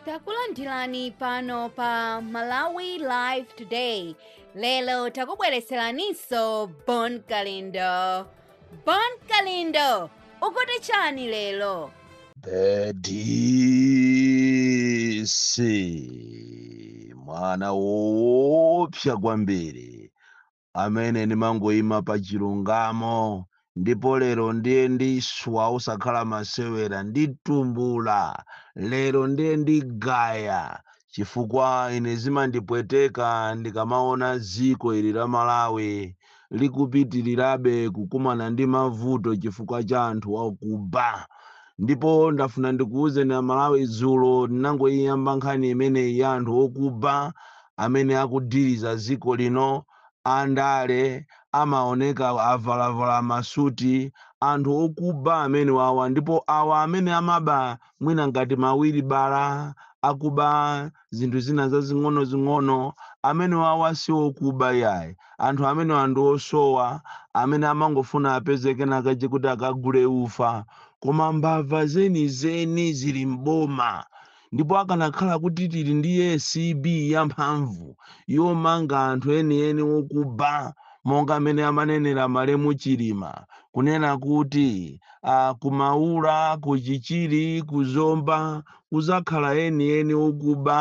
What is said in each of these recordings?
takulandirani pano pa malawi live today lero takubweretseraninso bon kalindo bon kalindo ukuti chani lero The DC mwana woopsa kwambiri amene ndimangoima pa chilungamo ndipo lero ndiye ndiswa osakhala masewera nditumbula lero ndiye ndigaya chifukwa ine zimandipweteka ndikamaona dziko ili la malawi likupitirirabe kukumana ndi mavuto chifukwa cha anthu akuba Ndipo ndafuna ndikuuzeni a Malawi dzulo ndinangoiyamba nkhani imeneyi ya anthu okuba amene akudhiliza dziko lino, a ndale amaoneka avalavala ma suti, anthu okuba amenewawa ndipo awa amene amaba mwina ngati ma wilibala akuba, zinthu zina zazing'onozing'ono amenewawa si okuba yayi anthu amenewa ndi osowa amene amangofuna apeze kena kache kuti akagule ufa koma mbava zenizeni zili m'boma ndipo akanakhala kuti tili ndi acb yamphamvu yomanga anthu enieni okuba monga amene amanenera malemu chilima kunena kuti uh, kumaula kuchichiri kuzomba kuzakhala enieni okuba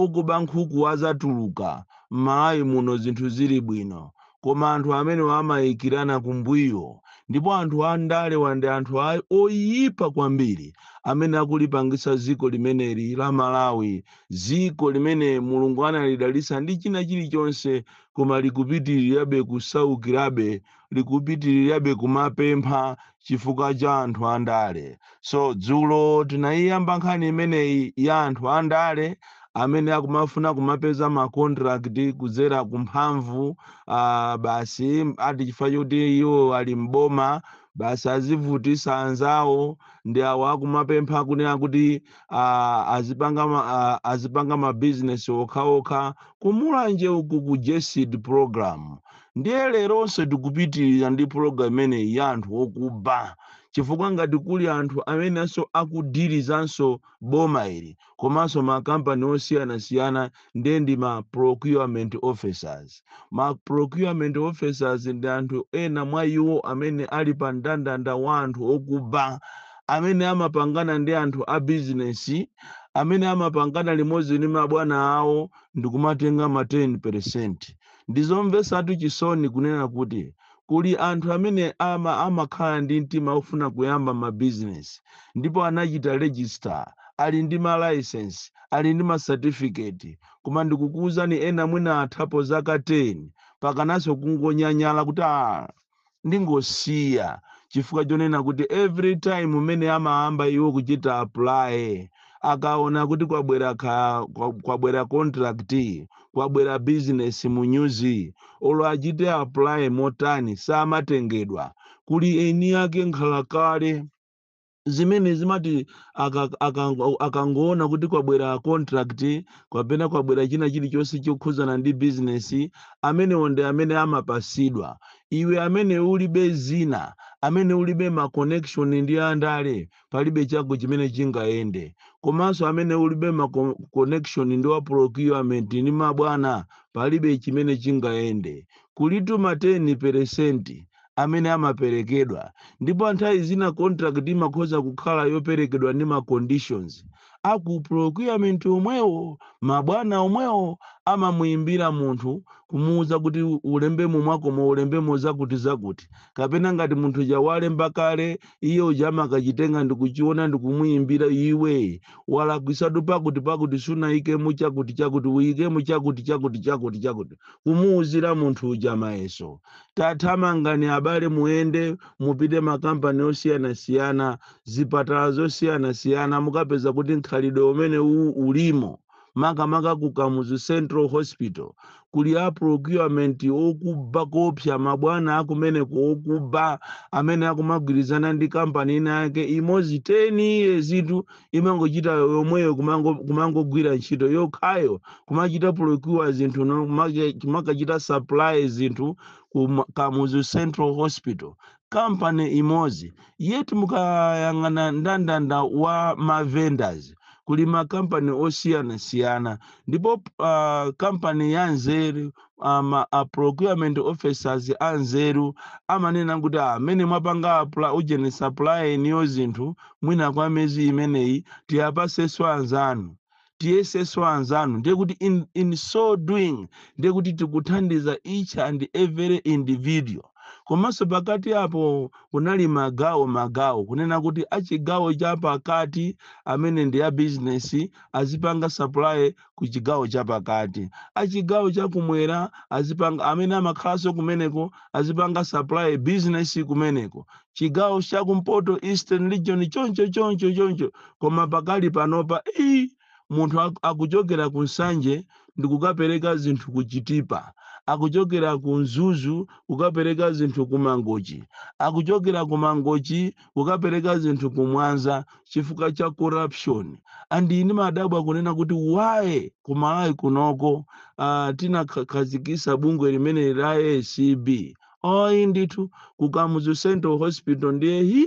okuba nkhuku azatuluka mmalawi muno zinthu zili bwino koma anthu amenewa amaikilana kumbuyo ndipo anthu andalewa ndi anthu a oyipa kwambiri amene akulipangisa dziko limeneli la malawi dziko limene mulungu analidalisa ndi china chilichonse koma likupitilirabe kusaukilabe likupitirirabe kumapempha chifukwa cha anthu andale so dzulo tinayiyamba nkhani imeneyi ya anthu andale amene akumafuna kumapeza ma contract kudzera kumphamvu uh, basi ati chifukwa choti iwo ali mboma basi azivutisa anzawo ndi awo akumapempha kunena kuti uh, azipanga ma, uh, azipanga mabizinesi okhaokha kumulanje uku ku GESD program ndiye leronso tikupitirira ndi pulogalamu imeneyi ya anthu okuba chifukwa ngati kuli anthu amenenso akudilizanso boma ili komanso makampani osiyanasiyana ndiye ndi ma procurement officers ma procurement officers ndi anthu ena mwa iwo amene ali pa mndandanda wa anthu okuba amene amapangana ndi anthu a bizinesi amene amapangana limodzi ndi mabwana awo ndikumatenga ma 10 percent Ndi zomvetsatu chisoni kunena kuti kuli anthu amene ama amakhala ndi mtima ofuna kuyamba ma business ndipo anachita register, ali ndi ma license, ali ndi ma certificate, koma ndikukuuzani ena mwina athapo zaka 10 pakananso kungonyanyala kuti aah! ndingosiya chifukwa chonena kuti every time umene amayamba iwo kuchita apply akaona kuti kwabwera ka, kwa, kwabwera contract kwabwera business mu nyuzi olo achite apply motani samatengedwa kuli eni ake nkhalakale zimene zimati aka- akango- akangoona kuti kwabwera contract kapena kwabwera china chilichonse chokhudzana ndi bizinesi amenewo ndi amene amapasidwa iwe amene ulibe zina amene ulibe ma connection ndi andale palibe chako chimene chingayende komanso amene ulibe ma con- connection ndi wa procurement ndi mabwana palibe chimene chingayende kulitu ma 10 peresenti amene amaperekedwa ndipo nthawi zina contract imakhoza kukhala yoperekedwa ndi ma conditions a ku procurement omwewo ma bwana omwewo amamuimbira munthu kumuuza kuti ulembemo mwakumo ulembemo zakuti zakuti kapena ngati munthu uja walemba kale iye uja amakachitenga ndikuchiona ndikumuimbira iwe walakwisatu pakuti pakuti sunaikemo chakuti chakuti uikemo chakuti chakuti chakuti chakuti kumuuzira munthu uja mayeso tathamangani abale muyende mupite makampani osiyanasiyana zipatala zosiyanasiyana mukapeza kuti mkhalidwe umene uwu ulimo makamaka ku kamuzu central hospital kuli a procurement okuba koopsa mabwana akumeneko okuba amene akumagwirizana ndi kampani ina yake imozi 10 years itu imangochita yomweyo kumango- kumangogwira ntchito yokhayo kumachita procure zinthu no- kumake- kumakachita supply zinthu ku ma- kamuzu central hospital kampani imodzi yet mukayang'ana ndandanda wa mavendors kuli makampani osiyanasiyana ndipo uh, kampani ya nzeru ama a procurement officers anzeru amanena kuti amene mwapanga apula ujeni supply inuyo zinthu mwina kwa mezi imeneyi tiyapaseso anzanu tiyeseso anzanu ndiye kuti in, in so doing ndiye kuti tikuthandiza each and every individual komanso pakati apo kunali magawo magawo kunena kuti achigawo cha pakati amene ndi a bizinesi azipanga supply ku chigawo chapakati. A chigawo cha kumwera azipanga amene amakhalanso kumeneko azipanga supply business kumeneko. Chigawo cha kumpoto Eastern region choncho choncho choncho koma pakali panopa ii munthu ak- akuchokera ku Nsanje ndikukapereka zinthu ku Chitipa akuchokera ku Mzuzu kukapereka zinthu ku Mangochi akuchokera ku Mangochi kukapereka zinthu ku Mwanza chifukwa cha corruption and ine ndimadabwa kunena kuti why ku Malawi kunoko uh, tinakhazikisa bungwe limeneli la ACB oyi ndithu ku Kamuzu Central Hospital ndiye hi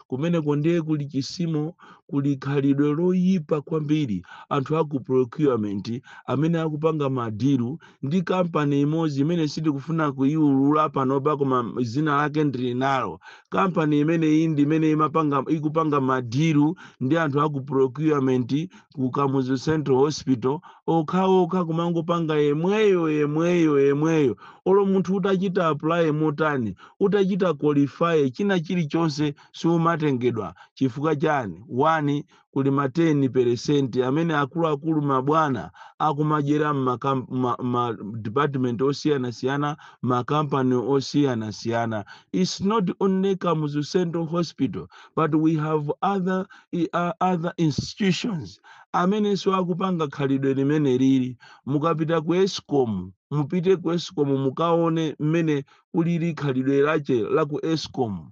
kumeneko ndiye kuli chisimo kuli khalidwe loyipa kwambiri anthu aku procurement amene akupanga madilu ndi kampani imodzi imene sindikufuna kuyiulula panopa koma dzina lake ndili nalo kampani imeneyi ndi imene imapanga ikupanga madiru ndi anthu aku procurement ku Kamuzu Central Hospital okhaokha kumangopanga yemweyo yemweyo yemweyo olo munthu utachita apply motani utachita qualify china chilichonse siumatengedwa chifukwa chani wani kuli ma 10 peresenti amene akuluakulu mabwana akumadyera ma, ma, ma department osiyanasiyana makampani osiyanasiyana it's not only Kamuzu Central Hospital but we have other, uh, other institutions amenenso akupanga khalidwe limeneli mukapita ku ESCOM mupite ku ESCOM mukaone mmene kulili khalidwe lache la ku ESCOM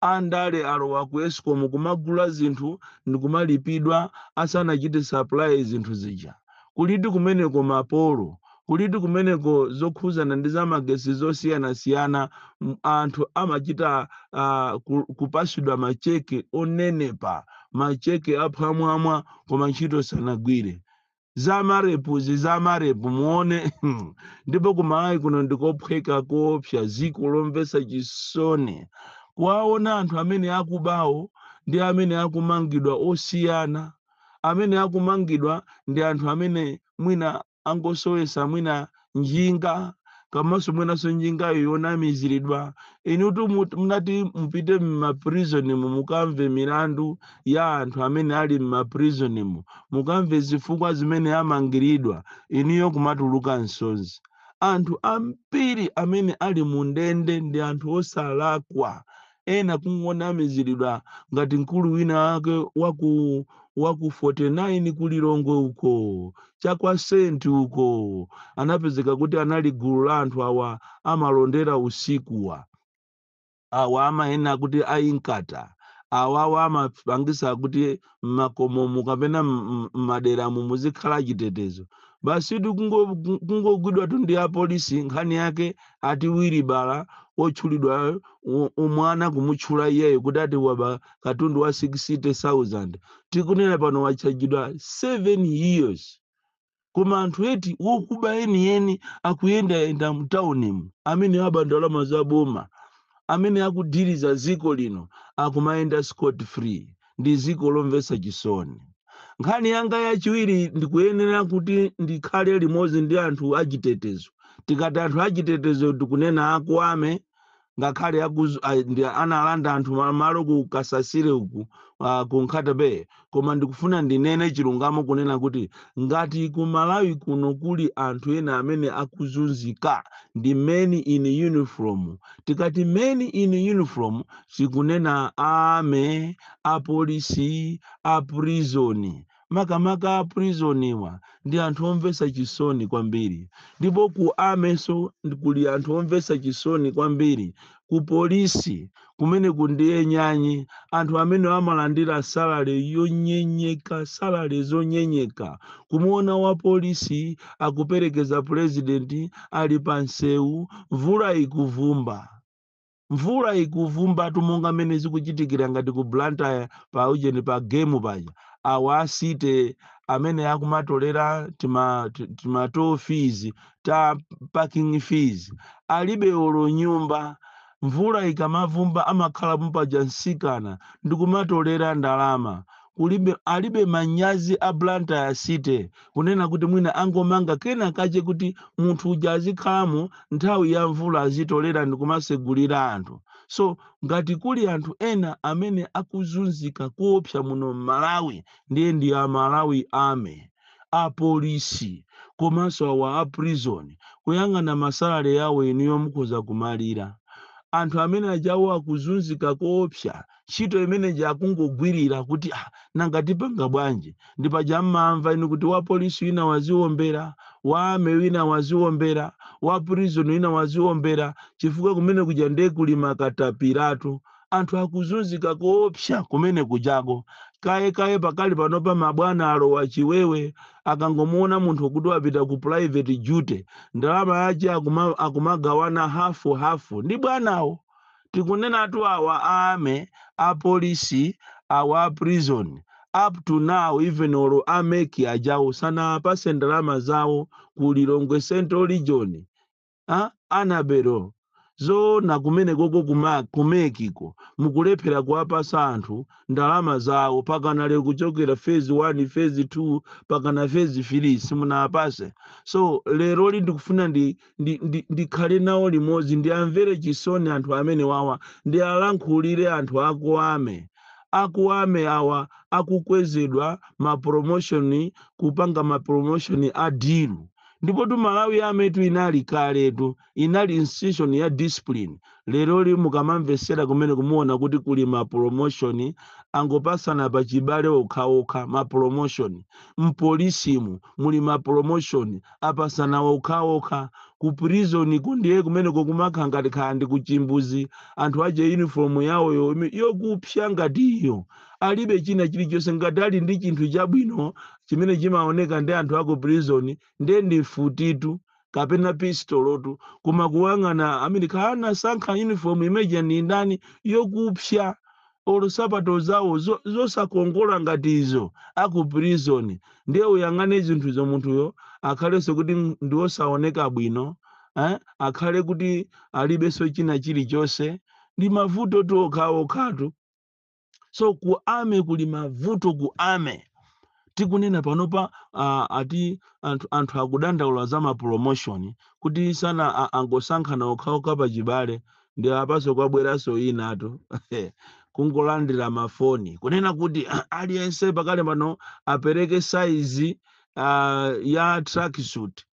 Andale alowa ku ESCOM kumagula zinthu ndikumalipidwa asanachite supply zinthu zija. Kuli kuti kumeneko mapolo? Kuli kuti kumeneko zokhuzana ndi za magetsi zosiyanasiyana anthu amachita aah kupasidwa ma cheque onenepa ma cheque aphwamwamwa koma ntchito sanagwire. za marepuzi za marepu muone ndipo ku Malawi kuno ndikophweka koopsa ziko lomvesa chisoni kuwaona anthu amene akubawo ndi amene akumangidwa osiyana amene akumangidwa ndi anthu amene mwina angosowesa mwina njinga kamanso mwinanso njingayo yonamiziridwa inutu mut- munati mupite m'maprizonimu mukamve milandu ya anthu amene ali m'maprizonimu mukamve zifukwa zimene amangiridwa inuyo kumatuluka nsonzi anthu ambiri amene ali mu ndende ndi anthu osalakwa ena kungonamiziridwa ngati mkulu wina wake waku waku 49 ku Lilongwe uko cha kwa Senti uko anapezeka kuti anali gulu la anthu awa amalondera usikuwa awa amanena kuti a Inkatha awawa amapangisa kuti m'makomomu kapena m- m- m'maderamu muzikhala achitetezo basi tu kungo- ku- kungogwidwatu ndi apolisi nkhani yake ati wiribala otchulidwa u- umwana kumutchula iyeyo kuti ati waba katundu wa 60000 tikunena pano watchajidwa 7 years koma anthu eti wokuba enieni akuyendayenda mtaunimu amene aba ndalama za boma amene akudiriza dziko lino akumayenda scot free ndi dziko lomvetsa chisoni nkhani yanga yachiwiri ndikuyenera kuti ndikhale limodzi ndi anthu achitetezo tikati anthu achitetezo tikunena aku ame ngakhale akuzu- a- ndi analanda anthu ma- malo ku kasasire uku uh, ku nkhata bay koma ndikufuna ndinene chilungamo kunena kuti ngati ku malawi kuno kuli anthu ena amene akuzunzika ndi men in uniform tikati men in uniform tikunena ame apolisi a prizoni makamaka a prison wa ndi anthu omvetsa chisoni kwambiri ndipo ku armynso ndi- kuli anthu omvetsa chisoni kwambiri ku polisi kumene ku ndiye nyanyi anthu amene amalandira salale yonyenyeka salale zonyenyeka kumuona wa polisi akuperekeza purezidenti ali pa msewu mvula ikuvumba mvula ikuvumbatu monga mmene zikuchitikira ngati ku blantyre pa ujeni pa game paja awa asite amene akumatolera tima, ti- tima toll fees ta parking fees alibe olo nyumba mvula ikamavumba amakhala pompaja msikana ndikumatolera ndalama kulibe alibe manyazi a Blantyre city kunena kuti mwina angomanga kena kache kuti munthu uja azikhalamo nthawi ya mvula azitolera ndikumasegulira anthu so ngati kuli anthu ena amene akuzunzika koopsa muno m'malawi ndiye ndi a malawi army apolisi komanso awa a prison kuyang'ana masalale yawo inuyo mukhoza kumalira anthu amene ajawo akuzunzika koopsa ntchito imene ija akungogwirira kuti ah, nanga tipanga bwanji ndi paja mmamva inu kuti wa polisi wina waziombera wa ame wina waziombera wa prison wina waziombera chifukwa kumene kuja nde kuli makatapiratu anthu akuzunzika koopsa kumene kujako kaye kaye pakali panopa mabwana alowa chiwewe akangomuona munthu kuti wapita ku private duty ndalama yake akuma- akumagawana hafu hafu ndi bwanawo tikunenatu awa a army, a police, awa a prison up to now even olo a mec ajawo sanawapase ndalama zawo ku lilongwe central region anabera zoona kumene koko kuma kumekiko mukulephera kuwapasa anthu ndalama zawo pakana lero kuchokera phase 1 phase 2 pakana phase 3 simunawapase so lero li ndikufuna ndi ndi, ndi, ndikhale nawo limodzi ndiamvere chisoni anthu amenewawa ndialankhulire anthu aku ame aku ame awa akukwezedwa ma promotion kupanga ma promotion a dilu ndipotu malawi ametu inali kaletu inali institution ya discipline Leroli mukamamvesera kumeneko muona kuti kuli ma promotion angopasana pa chibale okhaokha ma promotion, mpolisimu muli ma promotion opasana okhaokha, ku prisonko ndiye kumeneko kumakha ngati kaya ndi ku chimbuzi anthu aja uniform yaoyo yokupsya ngati iyo alibe china chilichonse ngati ali ndi chinthu chabwino chimene chimaoneka ndi anthu aku prison ndiye ndi mfutitu kapena pistolotu koma kuwang'ana amene kana sankha uniform imeja ndi ndani yokupsya olo sapato zawo zo- zosakongola ngati izo aku prison ndiye uyang'ane zinthuzo munthuyo akhalenso kuti m- ndi wosaoneka bwino eh? akhale kuti alibenso china chilichonse ndi mavutotu okhaokhatu so ku ame kuli mavuto ku ame tikunena panopa uh, ati anthu, anthu akudandaula za mapromotion kuti sana a- angosankhana okhaokha pachibale ndiye apaso kwabweranso inatu kungolandira mafoni kunena kuti aliyense pakale pano apereke saizi uh, ya tracksuit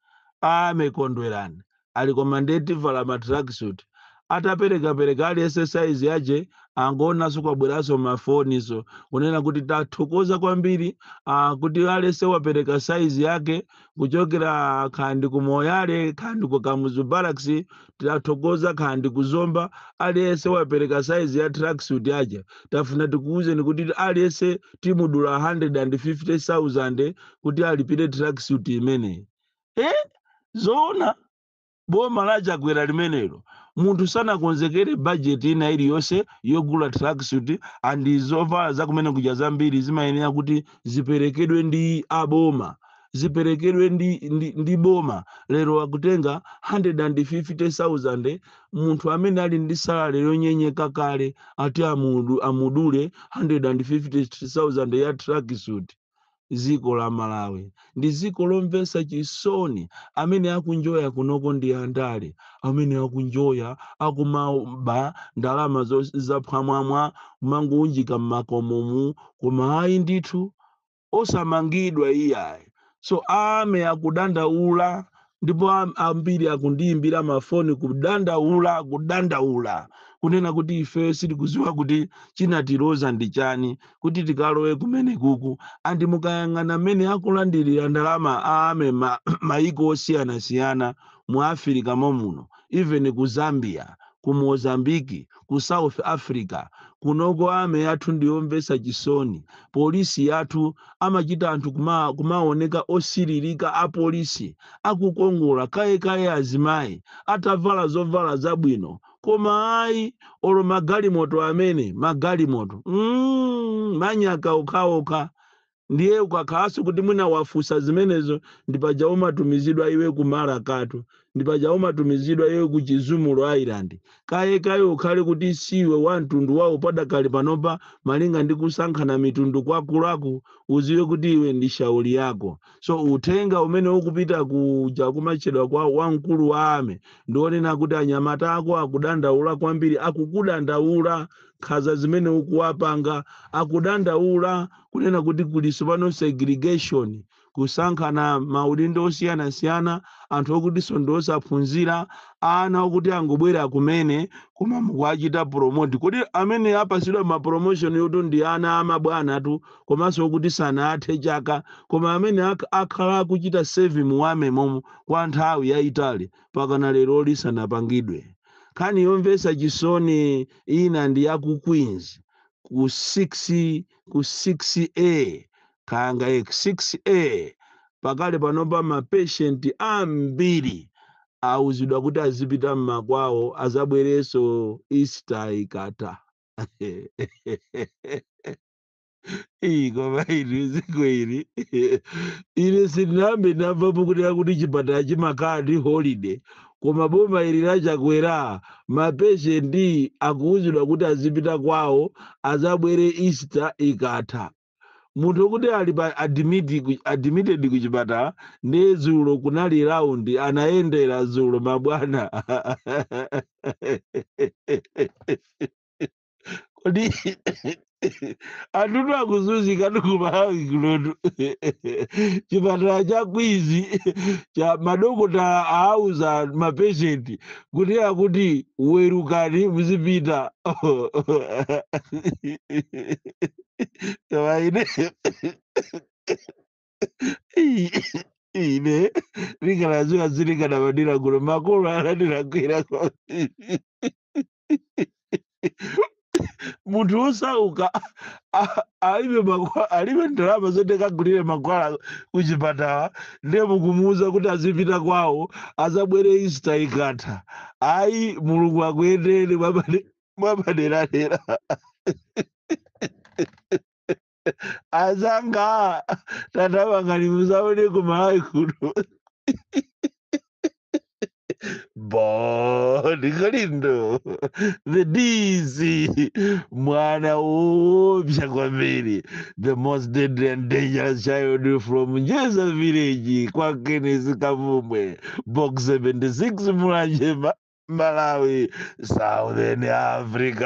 ame kondwerani ati koma nde tivala ma tracksuit ataperekapereka aliyense saizi yake angoonanso kwabweranso mafoniso kunena kuti tathokoza kwambiri ah, kuti aliyense wapereka saizi yake kuchokera kaya ndi ku moyale kaya ndi ku kamuzu barracks tathokoza kaya ndi ku zomba aliyense wapereka saizi ya tracksuit yake tafuna tikuwuzeni kuti aliyense timudula 150000 kuti alipire tracksuit imeneyi e zoona boma la chakwera limenelo munthu sanakonzekere bajeti ina iliyonse yogula tracksuit and zovala zakumenekuja zambiri zimayenera kuti ziperekedwe ndi aboma ziperekedwe ndi, ndi, ndi boma lero akutenga 150,000 munthu amene ali ndi salale yonyenyeka kale ati amudu, amudule 150,000 ya tracksuit ziko la malawi ndi ziko lomvesa chisoni amene akuenjoya kunoko ndi andale amene akuenjoya akumaba ndalama zo- zaphwamwamwa kumangowunjika mmakomomu koma ayi ndithu osamangidwa iyayi so army akudandaula ndipo am- ambiri akundiyimbira mafoni kudandaula kudandaula kunena kuti ife sitikuziwa kuti chinatiloza ndi chani kuti tikalowe kumene kuku andi mukayang'ana mmene akulandirira ndalama a army ma, maiko osiyanasiyana mu afirika momuno even ku zambia ku Mozambique, ku South Africa, kunoko army yathu ndiyomvetsa chisoni, police yathu amachita anthu kuma kumaoneka osililika a police akukongola kaye kaye azimayi atavala zovala zabwino koma ayi olo magalimoto amene magalimoto mm, manyaka okhaokha Ndiye ukakhalanso kuti mwina wafunsa zimenezo, ndi paja umatumizidwa iwe ku Mara Cato, ndi paja umatumizidwa iwe ku Chizumulu Island. Kaye kaye ukhale kuti siwe wa mtundu wawo padakali panopa malinga ndi kusankhana mitundu kwakulaku, udziwe kuti iwe ndi shauri yako. So uthenga umene ukupita kuja kumachedwa kwa wamkulu wa army ndi onena kuti anyamata ako akudandaula kwambiri, akukudandaula nkhaza zimene ukuwapanga akudandaula kunena kuti kulinso pano segregation kusankhana maudindo osiyanasiyana anthu okutinso ndi osaphunzira ana okuti angobwera kumene koma mukuwachita promote kodi amene apasidwa ma promotion yotu ndi ana a mabwanatu komanso okuti sanathe chaka koma amene ak- akhala akuchita serve mu army momo kwa nthawi yayitali pakana lero lisanapangidwe nkhani yomvetsa chisoni ina ndi ya ku Queens ku 6 ku 6A kaya ndi 6A pakali panopa ma patient ambiri auzidwa kuti azipita mmakwawo azabwereso Easter ikatha Ii, koma inu dziko ili ine sindinayambe ndamvapo kuti akuti chipatala chimakhala ndi holiday koma boma ili la chakwera mapeshenti akuwuzidwa kuti azipita kwawo azabwere easter ikatha munthu akuti ali pa admit ku- admitted ku chipatala nde dzulo kunali round anayendera dzulo mabwana kodi anthutu akuzunzika ku Malawi kunotu chipatala cha Queens cha madokotala aauza mapeshenti kuti akuti werukani muzipita koma ine ine ndikanadziwa sindikanabadwira kuno makolo anandilakwira kwambiri munthu wosauka a- alibe mankhwa- alibe ndalama zoti akagulire mankhwala kuchipatala ndiye mukumuwuza kuti azipita kwawo azabwere Easter ikatha ayi mulungu akuyendere mwapaderadera azanga tata bakali musaone ku malawi kuno Bon, Galindo, the DC, mwana woopsa kwambiri, the most deadly and dangerous child from Njeza village, kwa Kenneth Kavumbwe, box 76 Mulanje Malawi, Southern Africa.